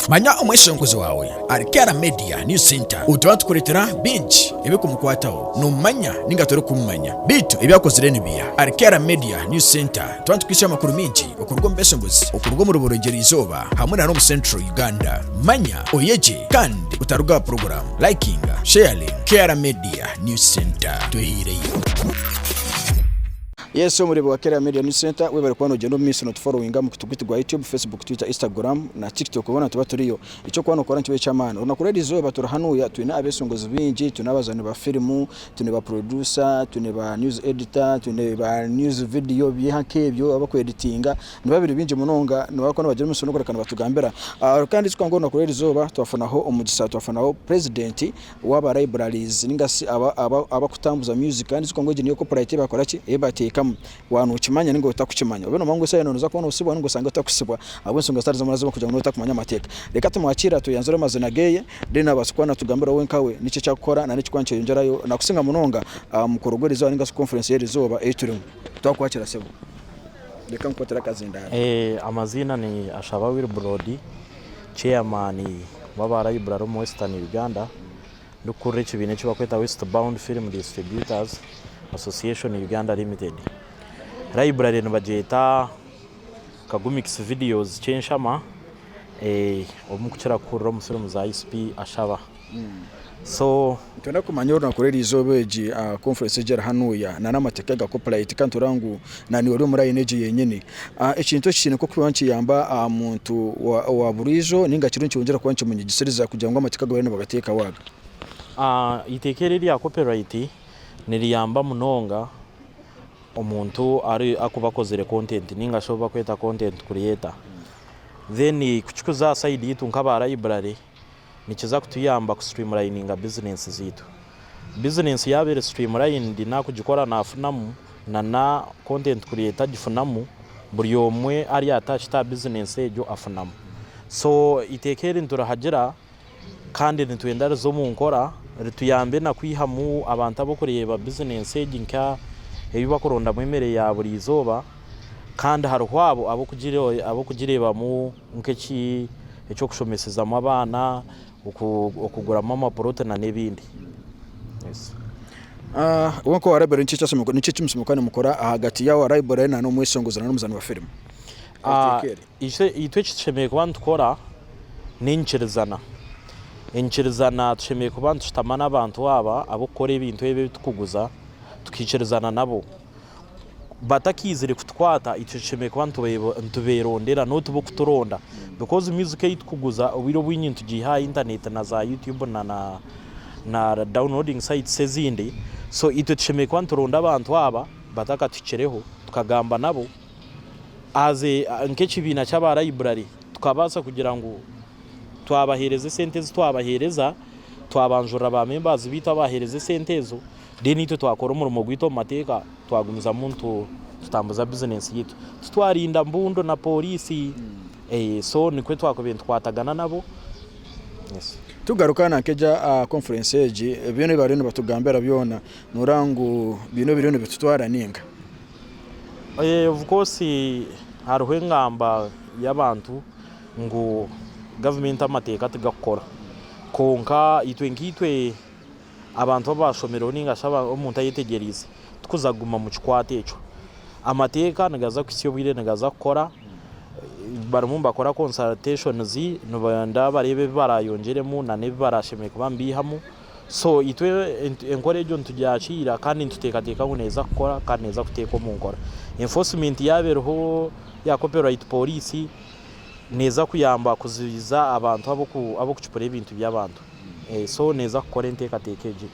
manya omweshenguzi waawe ari kera media new center obu tuba tukureetera bingi ebikumukwataho nomumanya ninga torikumumanya beitu ebi akozire nibiira ari kera media new center Twaba nitukwitsya amakuru maingi okuruga omu Besongozi, okuruga omu Ruborogyero Izooba hamwe na n'omu Central Uganda, manya oyegye kandi otaruga aha puroguramu. Likinga, Sharing, K'era Media News Centre. Twehaireyo. Yes omureebi wa K'era Media News Centre webare kuba nogyenda omu maiso notuforowinga omu kitugu itu gwa YouTube, Facebook, Twitter, Instagram na Tiktok hoona nituba turiyo. Ekyokuba nokora nikiba eky'amaani. Orunaku rw'eri izooba turi hanuuya twine abesongozi baingi, twine abazaani ba firimu, twine ba producer, twine ba news editor, twine ba news video byeha nk'ebyo abaku editinga niba biri bingi munonga nibabaasa kuba nibagira omutsyo n'okureka nibatugambira Ah, kandi ekyo twakora orunaku rw'eri izooba twafunaho omugisha twafunaho president w'aba libraries ninga shi aba- aba- abakutambuza music kandi ekyo twakora ngu egyo niyo copyright ei bakora ki ei bateekamu Waaba nookimanya ninga otakukimanya, obe noomanya ngu esaaha yoona nooza kuba noosibwa ninga osange otakusibwa ahabw'ensonga zitari zimwe na zimwe kugira ngu noobe otakumanya amateeka. Reka tumwakiira tweyanzure amazina geeye, then abaase kuba naatugambira we nkawe niki eki arikukora nari ekirikuba nikyeyongyerayo nakusinga munonga aha mukoro gw'erizooba ninga shi conference y'erizooba ei turimu. Twakwakira sebo. Reka nkukwatire akazindaaro. Amaziina ni Ashaba Wilbrod, Chairman w'aba Library omu Western Uganda. Ndikukurira ekibiina eki barikweta West Bound Film Distributors Association Uganda Limited. Library nibagyeta Kagumix Videos Kyenshama, eh, obu mukukira kuhurira omu firimu za ISP Ashaba. So. Nitwenda kumanya orunaku rw'erizooba egi conference egi erihanuuya, nana amateeka ga copyright, kandi tureba ngu Nani ori omuri ayina egyo yenyini? Ekintu eki kiine nk'okuba nikiyamba aha muntu owa buriijo ninga kiriyo nikyongyera kuba nikimunyigisiriza kugira ngu amateeka agu bariyo nibagateekaho aga. Eiteeka eri erya copyright niriyamba munonga omuntu arikuba akozire content ninga shi obu barikweta content creator. Then kukikuza aha side yaitu nk'aba library, nikiza kutuyamba kusitrimurayininga bizineesi zaitu. Bizineesi yaaba eri sitrimurayinidi naku ogikora naafunamu na na kontenti kureeta agifunamu, buri omwe ari atachiti aha bizineesi egyo afunamu. So eiteeka eri niturihagira kandi nitwenda rize omu nkora rituyambe na kwihamu abantu ab'okureeba bizineesi egi nka ebi bakurondamu emere ya buri izooba kandi hariho abo ab'okugireebamu nk'eki eky'okushomesezamu abaana, okuguramu amapoloti na n'ebindi. Iwe nka owa Library niki eki muka nimukora ahagati ya owa Library na n'omweshongozi na n'omuzaani wa firimu? Itwe eki tushemereire kuba nitukora n'enyikirizana. Enyikirizana tushemereire kuba nitushutama n'abantu aba ab'okukora ebintu ebi ebi tukuguza, tukaikirizana nabo. batakaizire kutukwata itwe tushemereire kuba nituberondera not bo kuturonda because music ei tukuguza obwire obwingi nitugiiha aha internet na za YouTube na downloading sites ezindi so itwe tushemereire kuba nituronda abantu aba batakatuhikireho tukagamba nabo as a nk'ekibiina ky'aba library tukabaasa kugira ngu twabahereza esente ezi twabahereza twabanjurira ba members baitu abahereza esente ezo. Reero itwe twakora omurimo gwaitu omu mateeka twagumizamu nitutambuza bizineesi yaitu. Titwarinda mbundu na pooriisi. So nikwo twakubaire nitukwatagana nabo. Tugaruka na nk'egyo aha konfurensi egi, byona ebi baariyo nibatugambira byona nooreeba ngu biine obu biriyo nibitutwara nainga? Of course hariho engamba y'abantu ngu gavumenti amateeka tigakukora. Kwonka itwe nkaitwe abantu abu baashomireho nainga shi omuntu ayetegyereize, tikuza kuguma omu kikwate ekyo. Amateeka nigaza kuhitsya obwire nigaza kukora, barimu nibakora consultations nibaronda bareebe ebi baraayongyeremu nana ebi baraashemereire kuba nibaihamu. So itwe enkora egyo nitugyakiira kandi nituteekateeka ngu neeza kukora kandi neeza kuteekwa omu nkora. Enforcement yaaba eriho ya copyright police, neeza kuyamba kuzibiza abantu ab'okucupura ebintu by'abantu. Eso neeza kukora enteekateeka egyo.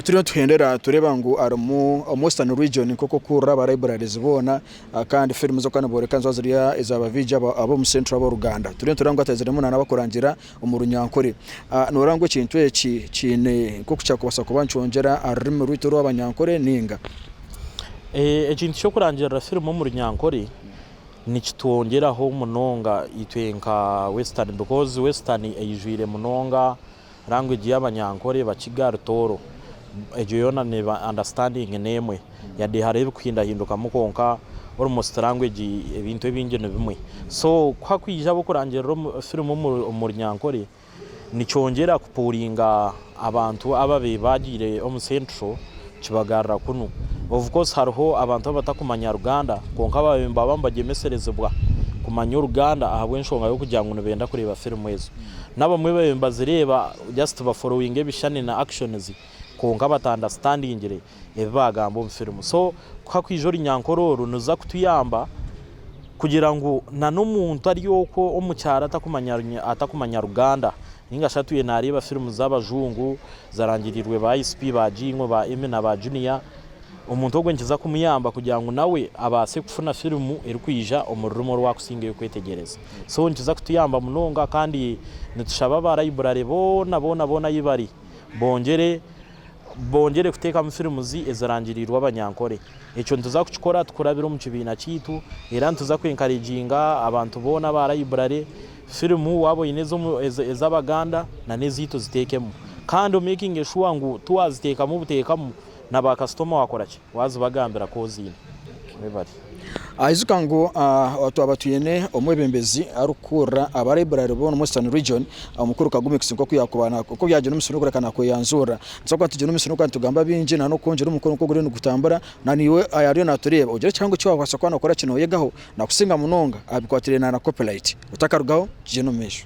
Turiyo nituhendera tureeba ngu harimu omu Western Region nk'oku orikuhurira aba libraries boona kandi firimu z'okuba nibooreka niziba ziri eza baviigi abo ab'omu Central ab'oruganda. Turiyo nitureeba ngu hatahiziremu na n'abarikurangira omu Runyankore. Nooreeba ngu ekintu eki kiine nk'oku kyakubaasa kuba nikyongyera aha rurimi rwaitu orw'Abanyankore nainga? Ekintu ky'okurangirira firimu omu Runyankore, nikitwongyeraho munonga itwe nka western because western eijwire munonga language yabanyankore eba kigali tooro egyo yoona neeba understanding nemwe yade hariho ebikuhindahindukamu kwonka almost language ebintu ebingi nibimwe so kuhakwija abakurangirira firimu omurunyankore Nikyongyera kupuuringa abantu aba be baagiire omu Central kibagarura kunu. Of course hariho abantu abatakumanya Ruganda kwonka aba be nibaba nibagyemeserezibwa kumanya Oruganda ahabw'enshonga y'okugira ngu nibenda kureeba firimu ezo. N'abamwe babaire nibazireeba just baforowinga ebishushani na actions kwonka batandastandingire. ebi bagamba omu firimu so ku hakwija orunyankore oru niruza kutuyamba kugira ngu na n'omuntu ari okwo omu kyaro atakumanya Ruganda ninga shi atwiire nareeba firimu z'abajungu zarangirirwe ba ICP ba Jingo ba Emmy na ba Junior omuntu ogwo nikiza kumuyamba kugira ngu nawe abaase kufuna firimu erikwija omu rurimi oru akusingayo kwetegyereza so nikiza kutuyamba munonga kandi nitushaba ba Library boona boona boona ayi bari bongyere Bongyere kuteekamu firimuzi ezirangiriirwe abanyankore. Ekyo nituza kukikora tukurabira omu kibiina kyaitu era nituza kwenkariginga abantu boona aba raiburare firimu waaba oine ez'Abaganda nana ezaitu ziteekemu kandi omekinge shuwa ngu tiwaziteekamu buteekamu na baakasitoma wakora ki? Wazibagambira ku oziine. Webare. Aijuka ngu twaba twine omwebembezi arikukuurira Abaraiburaari b'omu Western Region, Omukuru Kagumix, nk'oku yaakuba naakora. Ku byagira omusiri okureka naakweyanjurira, nitubaasa kuba nitugira omusiri okureka nitugamba bingi nainga n'oku ogira omukoro nk'oguriyo nigutambura. Na naiwe ayaariyo naatureeba, ogire ekihango eki waabaasa kuba nookora ki nooyegaho, nakusinga munonga aha bikwatiraine na Copyright. Otakarugaho, tugyende omu maisho.